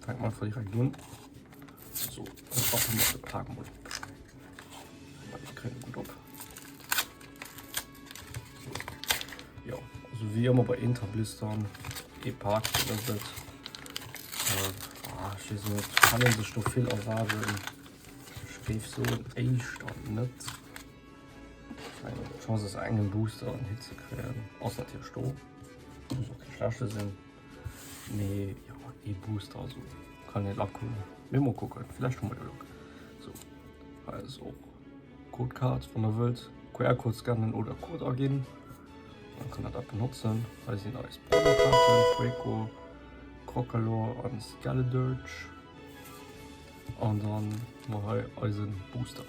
Fänken mer einfach direkt un. So, dann schaffen wir den Tag mal. Ich kriege gut ab. So. Ja, also wie immer bei Interblistern, E-Park, das wird. Äh, ah, ich weiß nicht, kann man sich noch viel erwarten. Ich gebe so ein Stand nicht. Chance ist einen Booster und Hitze kriegen. Außer natürlich Stroh. Muss auch kein Flasche sein. Mee jo, ee Booster also kann net lacken. Mee mol kucken, vläicht hu mer jo Luck. So, hei ass och d'Code Card, wann der wëllt QR-Code scannen oder Code aginn, dann kann der dat benotzen. Hei sinn eis Brawler-Kaarten, Draco, Crocalor an Skeledirge. An dann hu mer hei eisen Booster.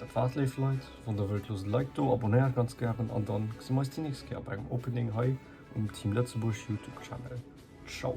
Dat war et léif Leit, wann der wëllt loosst e Like do, abonnéiert ganz gären an dann gesi mer eis déi nächst Kéier bei engem Opening hei um Team Lëtzebuerg Youtube Channel. Ciao!